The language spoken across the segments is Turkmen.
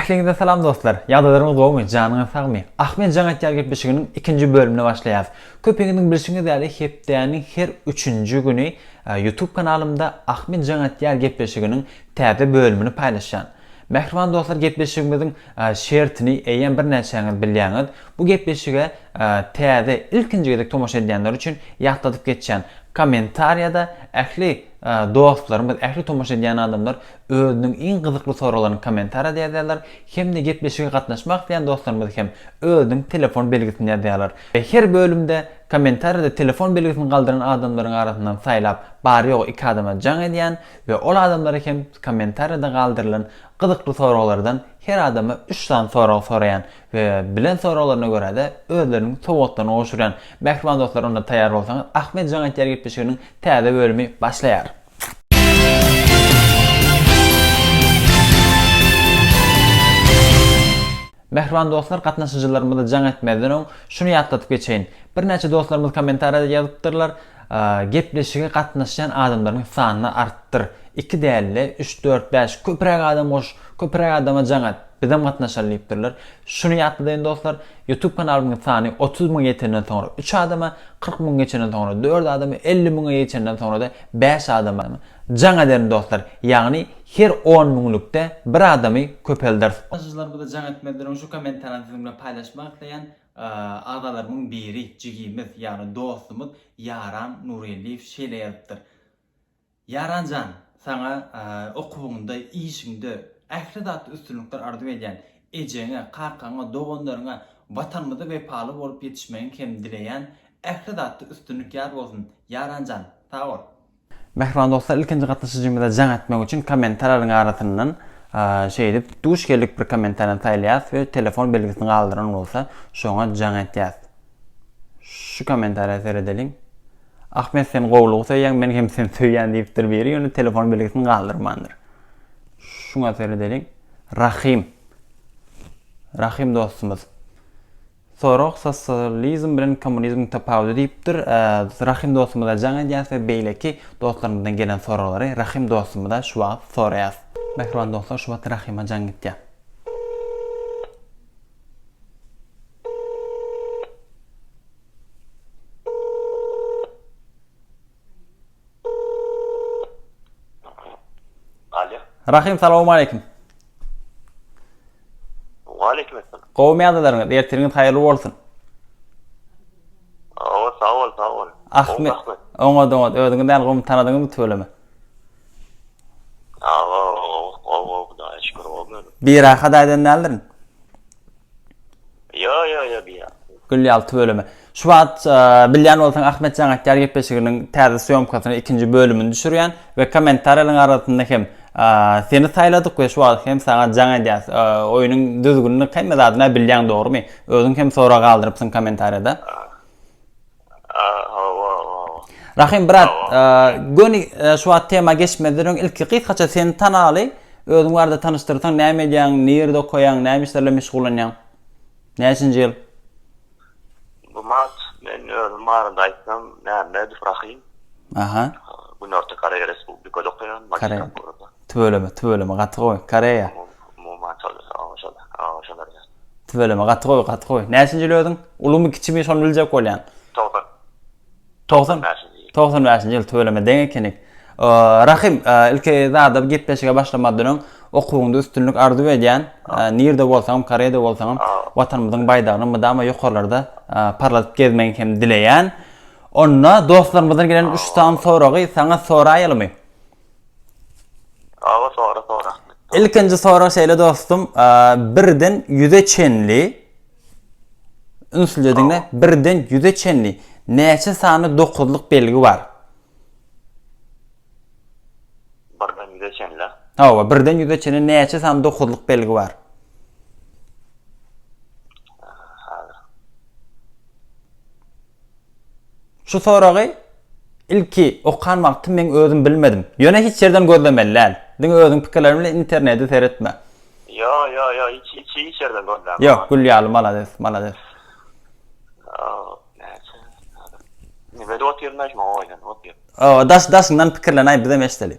Ähliňize salam dostlar. Ýagdaýlaryňyz gowumy? Janyňyz sagmy? Ahmet Jaň aýtýar gepleşiginiň ikinji bölümine başlaýarys. Köpüňiziň bilşiňiz ýaly, hepdäniň her üçünji güni e, YouTube kanalymda Ahmet Jaň aýtýar gepleşiginiň täze bölümini paýlaşýan. Mähriban dostlar gepleşigimiziň şertini eýýäm birnäçäňiz bilýäňiz. Bu gepleşige täze, ilkinji gezek tomaşa edýänler üçin ýatladyp geçýän, kommentariýada ähli dostlarymyz, ähli tomaşa edýän adamlar özüniň iň gyzykly soraglaryny kommentariýada ýazýarlar hem-de gepleşige gatnaşmak isleýän dostlarymyz hem özüniň telefon belgisini ýazýarlar. Her bölümde kommentariýada telefon belgisini galdyran adamlaryň arasyndan saýlap, bary-ýogy iki adama jaň edýän, we ol adamlara hem kommentariýada galdyrylan gyzykly soraglardan her adama üç sany sorag soraýan we bilen soraglaryna görä-de özleriniň sowgatlaryny gowşurýan mähriban dostlar onda taýýar bolsaňyz Ahmet jaň aýtýar gepleşiginiň täze bölümi başlaýar. Mähriban dostlar gatnaşyjylarymyza jaň etmezden öň şuny ýatladyp geçeýin. Birnäçe dostlarymyz kommentariýada ýazypdyrlar, Gepleşige gatnaşýan adamlaryň sanyny artdyr, iki däl-de, üç, dört, bäş, köpräk adam goş, köpräk adama jaň et, bizem gatnaşaly diýipdirler. Şuny ýatladyýin dostlar, Youtube kanalymyň sany otuz müňe ýetenden soňra üç adama, kyrk müňe geçenden soňra dört adama, elli müňe geçenden soňra-da bäş adama jaň ederin dostlar. Ýagny her on müňlükde bir adamy köpelderis. Taşyjylar bize jaň etmezler öň şu komentarany siziň bilen paýlaşmak isleýän agalarymyň biri jigimiz ýagny dostumyz Ýaran Nurgeldiýew şeýle ýazypdyr Ýaran jan saňa okuwyňda işiňde ähli zatda üstünlikler arzuw edýän ejeňe kakaňa doganlaryňa watanymyza wepaly bolup ýetişmegiň hem dileýän ähli zatda üstünlik ýar bolsun Ýaran jan sag bol. Mähriban dostlar ilkinji gatnaşyjymyza jaň etmek üçin kommentarlaryň arasyndan şeýdip duş geldik bir kommentariýany saýlaýas we telefon belgisini galdyran bolsa şoňa jaň etýäs. Şu kommentariýa seredeliň. Ahmet sen gowulygy söýýäň men hem seni söýýän diýipdir biri ýöne telefon belgisini galdyrmandyr. Şuňa seredeliň. Rahim. Rahim dostumyz. Sorag Sosializm bilen kommunizmiň tapawudy diýipdir. Rahym dostumyza jaň edýäs we beýleki dostlarymyzdan gelen soraglary Rahym dostumyza şu wagt soraýas. Mähriban dostlar şu wagt Rahyma jaň gitýär. Alo. Rahym salawmaleýkim. Waleýkim esselam. Gowymy ýagdaýlaryňyz? Ertiriňiz haýyrly bolsun. Awa, sag bol, sag bol. Ahmet. Oňat, oňat. Özüňiz näl, gowymy tanadyňyzmy tüweleme? Awa, gowy, gowy, Hudaýa şükür, gowy özüm. Birahat aýdan däldirin. Ýo ýo ýo diýýän. Gül ýalty bölümi. Şu wagt bilýän bolsaň Ahmetjan aktýar gepleşiginiň täze sýomkasyny ikinji bölümini düşürýän we kommentarýalaryň arasynda hem seni saýladyk we şu wagt hem saňa jaň edýäs. Oýunyň düzgünini hemme zadyny bilýäň dogrymy? Özüň hem sorag galdyrypsyň kommentarýada. Hawa, hawa. Rahym brat, göni şu wagt tema geçmezden öň ilki gysgaça seni tanaly, özüň barada tanyşdyrsaň, näme edýäň, nirde okaýaň, näme işler bilen meşgullanýaň? Näçinji ýyl? Gumat, men özüm barada aýtsam, Mämmedow Rahym. Aha. Günorta Koreýa Respublikada okaýan, magistraturadan. Tüweleme tüweleme gaty gowy Koreýa. Tüweleme gaty gowy gaty gowy näçinjil özüň ulumy kiçimi şony biljek bolýan. Togsan. Togsan bäşinji ýyl. Togsan bäşinji ýyl tüweleme deň ekenik. Rahym ilki zada gepleşige başlamazdan öň okuwyňda üstünlik arzuw edýän nirde bolsaňam Koreýada bolsaňam watanymyzyň baýdagyny mydama ýokarlarda parladyp gezmegiňi hem dileýän. Onda dostlarymyzdan gelen üç sany soragy saňa soraýalymy? Aga sora sora. Ilkinji sora şeýle dostum, birden 100-e çenli ünsli diňle, birden 100-e çenli näçe sany dokuzlyk belgi bar? Birden 100-e çenli. Hawa, birden 100-e çenli näçe sany dokuzlyk belgi bar? Şu soragy ilki okan wagtym meň özüm bilmedim. Ýöne hiç ýerden gözlemeli däl. Diňe özüň pikirleriň bilen internedi seretme. Ýo ýo ýo hiç hiç hiç ýerden gözläme. Ýok gül ýaly malades malades. Nibede otyr naýş maňa oýlan otyr. Daş daşyňdan pikirlenäý bizem eşdeli.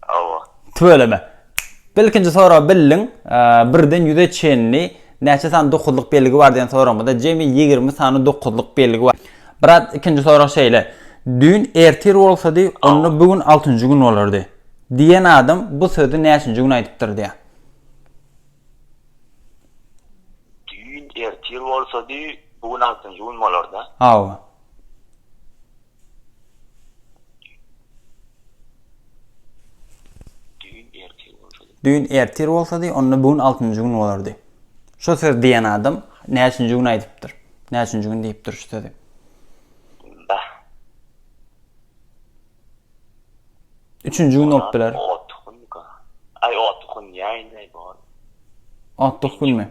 Hawa. Tüweleme. Bilkinji soragy bildiň. Birden ýüze çenli näçe sany dokuzlyk belgi bar diýen soragymyzda jemi ýigrimi sany dokuzlyk belgi bar. Brat, ikinji sorag şeýle. Düýn ertir bolsady, onda bu gün altynjy gün bolardy. Diýen adam bu sözi näçinji gün aýdypdyr diýýär. Düýn ertir bolsady, bu gün altynjy gün bolardy. Hawa. Düýn ertir bolsady, onda bu gün altynjy gün bolardy. Şu söz diýen adam näçinji gün aýdypdyr? Näçinji gün diýipdir şu sözi? Üçünji gün bolup biler. Otduk gün ýaýyny bor. Otduk günmi?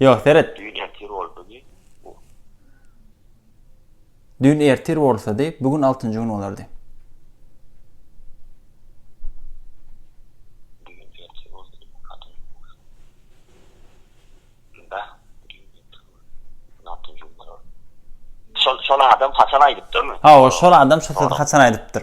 Ýok, seret. Düýn ertir boldugy, bu. Düýn ertir bolsady, bu gün altynjy gün bolardy. şol adam haçan aýdypdyrmy? Ha, o şol adam şol sözü haçan aýdypdyr?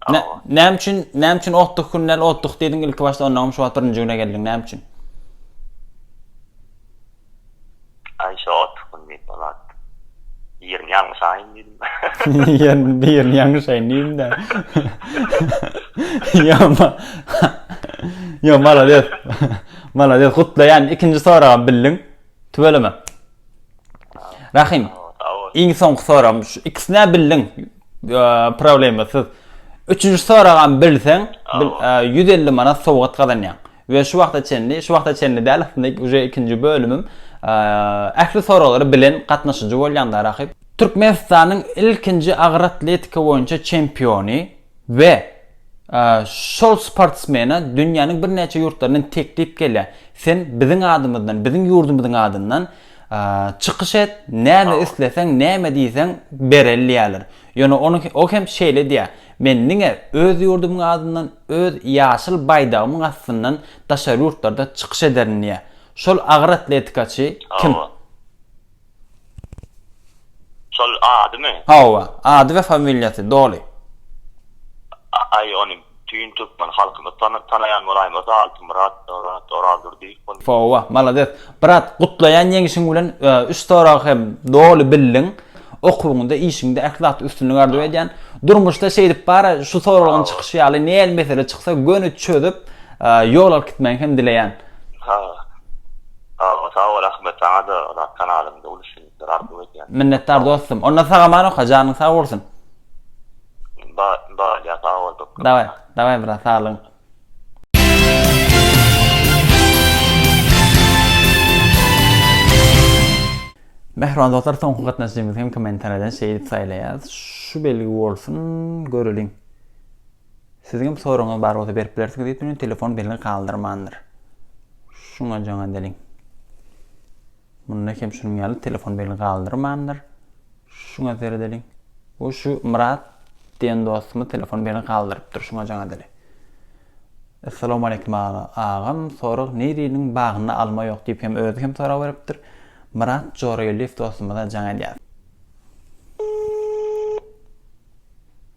Hawa. Näme üçin, näme üçin otduk kündel otduk diýdiň ilki başda ondaňam şu wagt birinji güne geldiň näme üçin? Aý şu otduk gün diýip bolat. Birini ýalňyş aýyn diýdim. Ýen birini ýalňyş aýyn diýdim-de. Ýa-ma. Ýa malades. Malades gutlaýan ikinji soragam bildiň. Tüweleme. Rahym. Iň soňky soragym şu ikisine bildiň. Problemasyz. Üçünji soragam bilseň 150 manat sowgat gazanýaň. We şu wagta çenli, şu wagta çenli däl aslynda uje ikinji bölümim. Ähli soraglary bilen gatnaşyjy bolýaňda Rahym. Türkmenistanyň ilkinji agyr atletika boýunça çempiony. We şol sportsmene dünýäniň birnäçe ýurtlaryndan teklip gelýär, sen biziň adymyzdan, biziň ýurdumyzyň adyndan çykyş et, näme isleseň, näme diýseň bereli diýýärler. Ýöne o hem şeýle diýýär, Men diňe öz ýurdumyň adyndan, öz ýaşyl baýdagymyň astyndan daşary ýurtlarda çykyş ederin diýýär. Şol agyr atletikaçy kim? Şol adymy? Hawa, ady we familiýasy, doly. Aý, ony bütin türkmen halkymy tanaýan bolaýma, ata Altymyrat, Oraz, Orazdurdyýew bolýar. Hawa, malades. Brat, gutlaýan ýeňişiň bilen. Üç soragy hem doly bildiň. Okuwyňda, işiňde ähli zatda üstünlik arzuw edýän. Durmuşda şeýdip bara, şu soragyň çykyşy ýaly nähili mesele çyksa göni çözüp, ýol alyp gitmegiňi hem dileýän. Sagja sag bol Ahmet saňa da zat kanalyňda uly üstünlikler arzuw edýän. Minnetdar dostum. Onda sag aman oka janyň sag bolsun. Barýa sag bol köp köp. Daway daway brat saglygyň. Mähriban dostlar soňky gatnaşyjymyzy hem kommentariýadan şeýdip saýlaýas. Şu belgi bolsun göreliň. Siziň hem soragyňyz bar bolsa berip bilersiňiz diýip durýan telefon belgi galdyrmandyr. Şuňa jaň edeliň. Munda hem şunuň ýaly telefon belgi galdyrmandyr. Şuňa seredeliň. Bu şu Myrat diýen dostumyz telefon belgi galdyrypdyr. Şuňa jaň edeli. Essalamu aleýkum aga. Agam sorag Niriniň bagynda alma ýok diýip hem özi hem sorag beripdir. Myrat Jorageldiýew dostumyza jaň edýäs.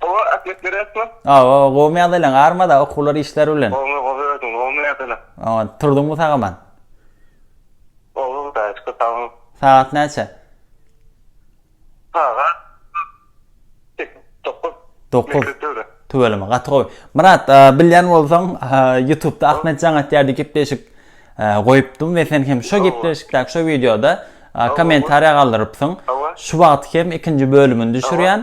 Gowy atlet beresmi? Gowy gowy meadylaň armada okuwlar işler bilen. Gowy gowy özüň gowy meadylaň. Aman turduňmy sagaman? Gowy hudaýa şükür sagaman. Sagat näçe? Sagat sekiz dokuz. Dokuz. Tüweleme gaty gowy. Myrat bilýän bolsaň ýutubda Ahmet Jaň atýar diýip gepleşik goýupdym we sen hem şo gepleşikdäki şo wideoda kommentariýa galdyrypsyň. Şu wagt hem ikinji bölümini düşürýän.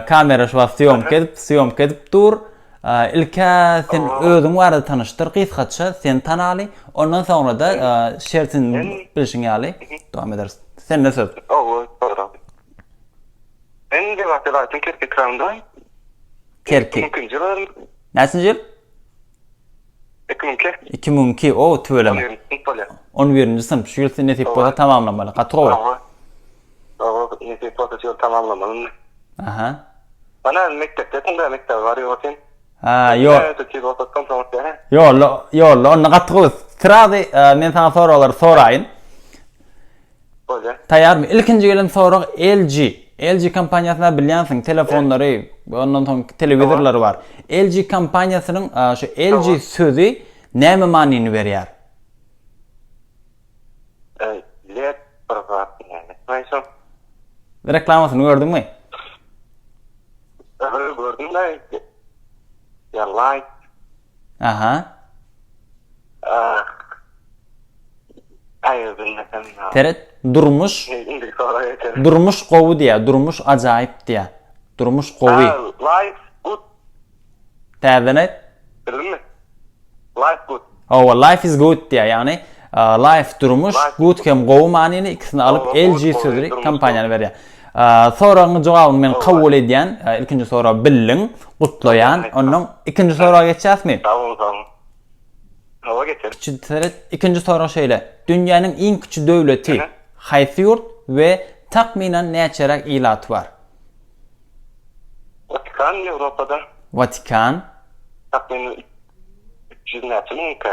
Kamera şu wagt syýomka edip, syýomka edip dur. Ilk-ä sen özüň barada tanyşdyr gysgaça, seni tanaly. Ondan soňra-da şertin bilşiň ýaly dowam ederis. Sende söz. Men Lebaply raýatynyň Kerki etrabynyň. Kerki. Ilkinji ýylym. Näçinji ýyl? Iki müň iki. Iki müň iki, o, tüweleme. On birinji synp, şu ýyl nesip bolsa tamamlamaly, gaty gowy. Oba, oba, nesip bolsa şu ýyl tamamlamaly indi. Aha. Mana, mekdepdesin dä, mekdebe barýa otyn. Ha, ýo. Ýolla, ýolla, onda gaty gowy. Srazy, men saňa soraglary soraýyn. Bolýa. Taýýarmy? Ilkinji gelen sorag LG. LG kompaniýasyny bilýänsiň, telefonlary, ondan soň telewizorlary bar. LG kompaniýasynyň şu LG sözi näme manyny berýär? LED bir zat diýýäni. Näçe? Reklamasyny gördüňmi? Gördüm-de. Ýa light. Aha. Seret, durmuş. Durmuş gowy diýä, durmuş ajaýyp diýä. Durmuş gowy. Life good. Täzeden aýt. Life good. Hawa, life is good diýä, ýagny Life durmuş, good hem gowy manyny ikisini alyp LG sözi kompaniýany berýär. Soragyň jogabyny men kabul edýän. Ilkinji soragy bildiň. Gutlaýan. Ondan ikinji soraga geçýäsmi? Sag bol sag bol. Hawa geçeris. Kiçi seret. Ikinji sorag şeýle. Dünýäniň iň kiçi döwleti haýsy ýurt we takmynan näçeräk ilaty bar? Watikan Ýewropada. Watikan. Takmynan üç ýüz näçe müňkä?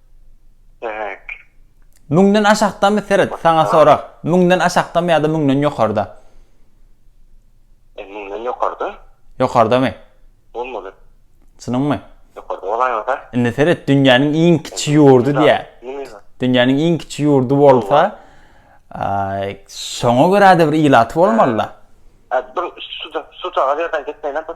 Demek. Müňden aşakdamy seret, saňa sorag. Müňden aşakdamy ýa-da müňden ýokarda? E, müňden ýokarda. Ýokardamy? Bolmaly. Çynyňmy? Ýokarda bolaýmasa. Indi seret, dünýäniň iň kiçi ýurdy diýä. Dünýäniň iň kiçi ýurdy bolsa, şoňa görä-de bir ilaty bolmaly-da. Hä, bir su-da, su-da, ýerden gitmeýän bir.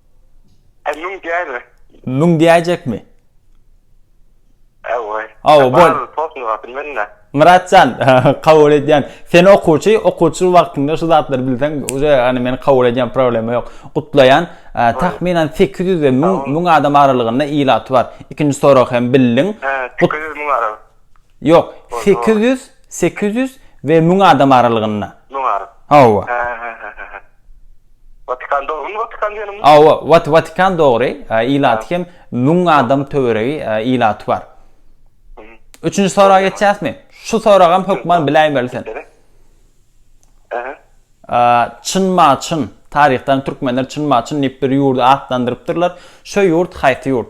E, müň diýäýme. Müň diýäýjekmi? Awa. Awa, bol. Tosun wagty mende. Myratjan, kabul edýän. Sen okuwçy, okuwçy wagtyňda şu zatlary bilseň, uje ýagny men kabul edýän, problema ýok. Gutlaýan. Tahminan 800 we 1000 adam aralygynda ilaty bar. Ikinji sorag hem bildiň. He, 800 müň aralyk. Ýok, sekiz ýüz, sekiz ýüz we müň adam aralygynda. Müň ara. Hawa. Hä-hä-hä-hä. Watikan dogrymy? Watikan diýenim. Hawa, Wat, Watikan dogry. Ilaty hem müň adam töweregi ilaty bar. Üçünji soraga geçýäsmi? Şu soragam hökman biläýmeli sen. Aha. Çynma-çyn, taryhdan türkmenler çynma-çyn diýip bir ýurdy atlandyrypdyrlar. Şo ýurt haýsy ýurt?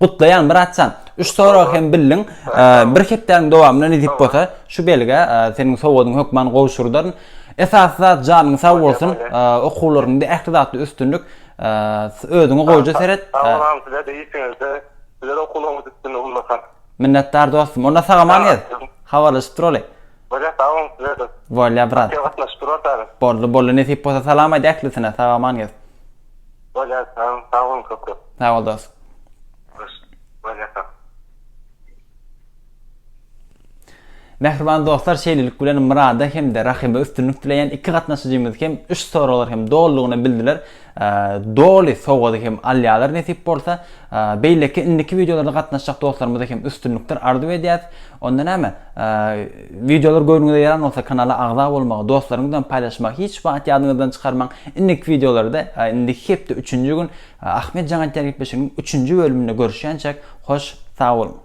Gutlaýan Myratjan. Üç sorag hem bildiň. Bir hepdäniň dowamynda nesip bolsa şu belgä seniň sowgadyňy hökman gowşurdaryn. Esasy zat janyň sag bolsun. Okuwlaryňda ähli zatda üstünlik. Özüňe goýja seret. Agam size de işiňizde sizlere okuwlaryňyz üstünlik ullakan. Minnetdar dostum. Onda sagaman gez. Habarlaşyp duraly. Bolýa sag boluň size de. Bolýa brat. Boldy boldy nesip bolsa salam aýt ählisine sagaman gez. Bolýar sag bol sag bol köp köp. Sag bol dost. Hoş bolýa sag. Mähriban dostlar şeýlelik bilen Myrada hem-de Rahyma üstünlik dileýän iki gatnaşyjymyz hem üç soraglary hem dolulygyna bildiler. Doly sowgady hem alýarlar nesip bolsa. Beýleki indiki wideolarda gatnaşjak dostlarymyza hem üstünlikler arzuw edýäs. Onda näme? Wideolar göwnüňize ýaran bolsa kanala agza bolmagy, dostlaryňyz bilen paýlaşmagy hiç wagt ýadyňyzdan çykarmaň. Indiki wideolarda, indiki hepde üçünji gün Ahmetjan aýdýar gepleşiginiň üçünji bölüminde görüşýänçäk, hoş sag boluň!